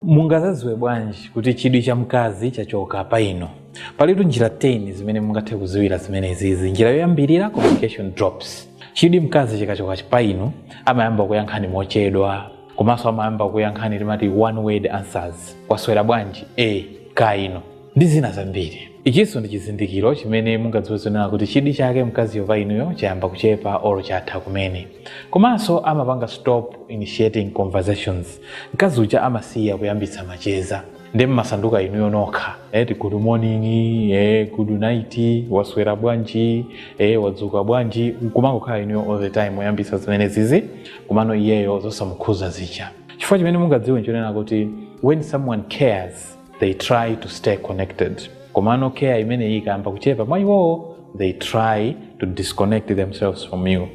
Mungazaziwe bwanji kuti chidwi cha mkazi chachoka pa inu? Palitu njira 10 zimene mungathe kuziwira zimene izizi. Njira yoyambirira, communication drops. Chidwi mkazi chikachoka pa inu, amayamba kuyankhani mochedwa, komanso amayamba kuyankhani timati one word answers. Kwaswera bwanji? E, kaya inu. ndi zina zambiri. Ichinso ndi chizindikiro chimene mungadziwe zonena kuti chidwi chake mkaziyo pa inuyo chayamba kuchepa or chatha kumene. Komanso amapanga stop initiating conversations. Mkazi uja amasiya kuyambitsa macheza. Ndiye mumasanduka inuyo nokha. Eti good morning, eh, good night, waswera bwanji, eh, wadzuka bwanji. Kumangokhala inuyo all the time oyambitsa zimenezizi komano iyeyo zosamukhuza zija. Chifukwa chimene mungadziwe nchonena kuti when someone cares they try to stay connected komano care imeneyi ikayamba kuchepa mwa iwowo they try to disconnect themselves from you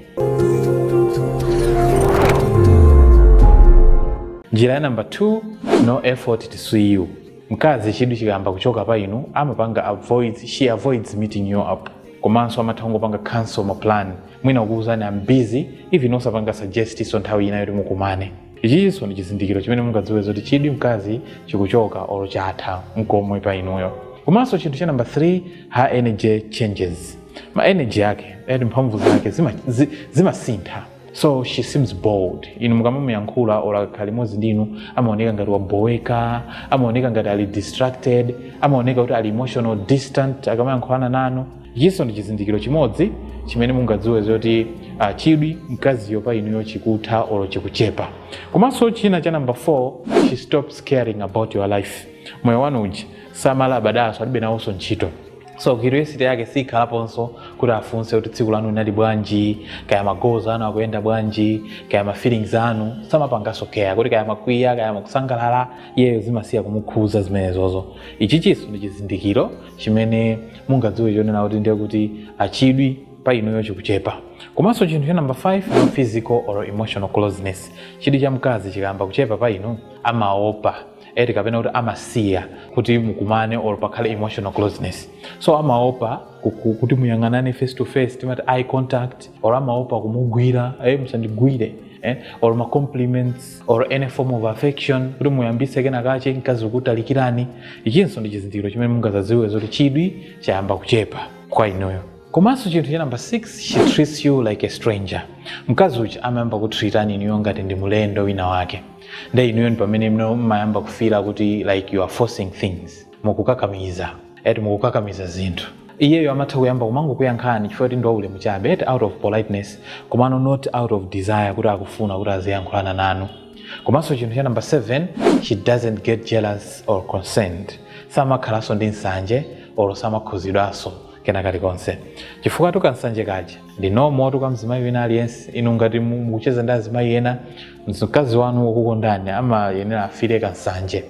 njira ya namba 2 no effort to see you mkazi chidwi chikayamba kuchoka pa inu amapanga avoids she avoids meeting you up komanso amatha kungopanga cancel ma plan mwina kukuuzani am busy even osapanga suggestnso nthawi ina yoti mukumane Ichinso ndi chizindikiro chimene mungadziwe zoti chidwi mkazi chikuchoka olo chatha nkomwe pa inuyo. Komanso chinthu cha namba 3 her energy changes. Ma energy yake eti mphamvu zake zima- zi- zimasintha so she seems bored inu mukamamuyankhula or akakhala limodzi ndinu amaoneka ngati waboweka amaoneka ngati ali distracted amaoneka kuti ali emotional distant akamayankhulana nanu Ichinso ndi chizindikiro chimodzi chimene mungadziwe zoti ah, chidwi mkaziyo pa inuyo chikutha olo chikuchepa. Komanso china cha namba 4 she stops caring about your life. Moyo wanu uja samalabadaso alibe nawonso ntchito so curiosity yake sikhalaponso kuti afunse kuti tsiku lanu linali bwanji kaya magoals anu akuyenda bwanji kaya ma feelings anu samapanganso care kuti kaya mwakwiya kaya mukusangalala iyeyo zimasiya kumukhuza zimenezozo ichichinso ndi chizindikiro chimene mungadziwe chonena kuti ndiye kuti ah chidwi pa inuyo chikuchepa komanso chinthu cha namba 5 physical or emotional closeness chidwi cha mkazi chikayamba kuchepa pa inu amaopa eti kapena kuti amasiya kuti mukumane or pakhale emotional closeness so amaopa ku- ku- kuti muyang'anane face to face timati eye contact or amaopa kumugwira eh, musandigwire eh, or ma compliments or any form of affection kuti muyambise kenakake mkazi kukutalikirani ichinso ndi chizindikiro chimene mungazaziwe zoti chidwi chayamba kuchepa kwa inuyo komanso chinthu cha namba 6 she treats you like a stranger mkazi uja amayamba kutritani inuyo ngati ndi mulendo wina wake nde inuyo ndi pamene mmayamba kufila kuti like you are forcing things mukukakamiza eti mukukakamiza zinthu iyeyo amatha kuyamba kumangokuyankhani chifukwa kuti ndi waulemu chabe eti out of politeness komano not out of desire kuti akufuna kuti aziyankhulana nanu komanso chinthu cha namba 7 she doesn't get jealous or concerned samakhalanso ndi nsanje olo samakhuzidwanso kena kalikonse chifukwa tukansanje kaja ndi normal tu kwa mzimayi wina aliyense inu ngati mu- mukucheza ndi azimayi ena mkazi wanu wokukondani amayenera afire kansanje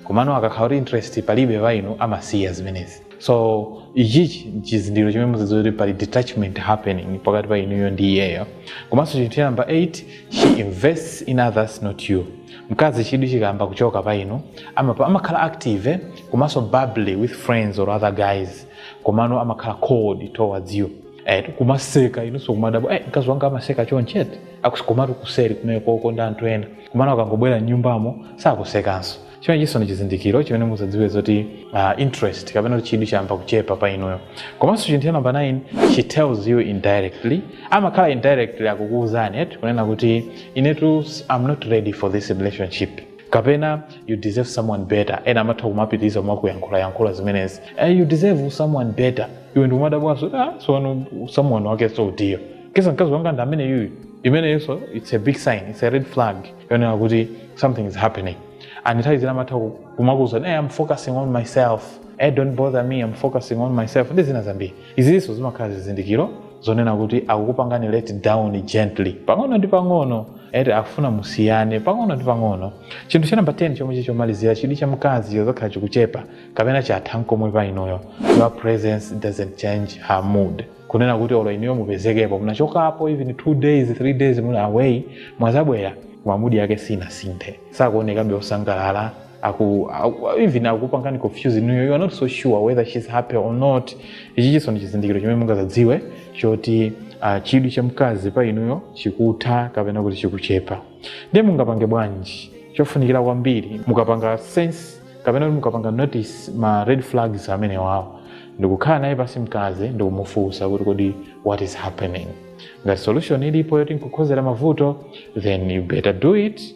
komano akakhala kuti interest palibe pa inu amasiya zimenezi so ichi ndi chizindikiro chimene muzidziwa kuti pali detachment happening pakati pa inuyo ndi iyeyo komanso chinthu cha namba 8 she invests in others not you mkazi chidwi chikayamba kuchoka pa inu amapa- amakhala active eh, komanso bubbly with friends or other guys komano amakhala cold towards you eh, kumaseka inunso kumadabwa eh, mkazi wanga amaseka chonchete akusekatu kuseri kumeneko ndi anthu ena komano akangobwera mnyumbamo sakusekanso chimenechiso ndi chizindikiro chimene muzadziwe zoti uh, interest kapena kuti chidwi chayamba kuchepa pa inuyo komanso chinthu cha namba 9 she tells you indirectly amakhala indirectly akukuwuzani eti kunena kuti inetu i'm not ready for this relationship kapena you deserve someone better ena amatha kumapitiriza kumakuyankhula yankhula zimenezi eh, you deserve someone better iwe ndikumadabwanso ah, sono someone wakenso utiyo ndesa mkazi wanga ndi ameneyuyu imeneyonso it's a big sign it's a red flag yonena kuti something is happening and nthawi zina amatha kumakuuza hey, i'm focusing on myself hey, don't bother me i'm focusing on myself ndi zina zambiri izinso zimakhala zizindikiro zonena kuti akukupangani let down gently pang'ono ndi pang'ono eti akufuna musiyane pang'ono ndi pang'ono chinthu cha namba 10 chomwe chili chomalizira chidwi cha mkazi chizakhala chikuchepa kapena chatha nkomwe pa inuyo your presence doesn't change her mood kunena kuti olo inuyo mupezekepo munachokapo even two days three days muli away mwazabwera koma mood yake sinasinthe sakuonekabe osangalala aku, aku even akupangani confuse inuyo you are not so sure whether she's happy or not ichichiso ndi chizindikiro chimene mungazadziwe choti uh, chidwi cha mkazi pa inuyo chikutha kapena kuti chikuchepa ndiye mungapange bwanji chofunikira kwambiri mukapanga sense kapena kuti mukapanga notice ma red flags amenewawo ndikukhala naye pasi mkazi ndikumufunsa kuti kodi what is happening ngati solution ilipo yoti nkukhozera mavuto then you better do it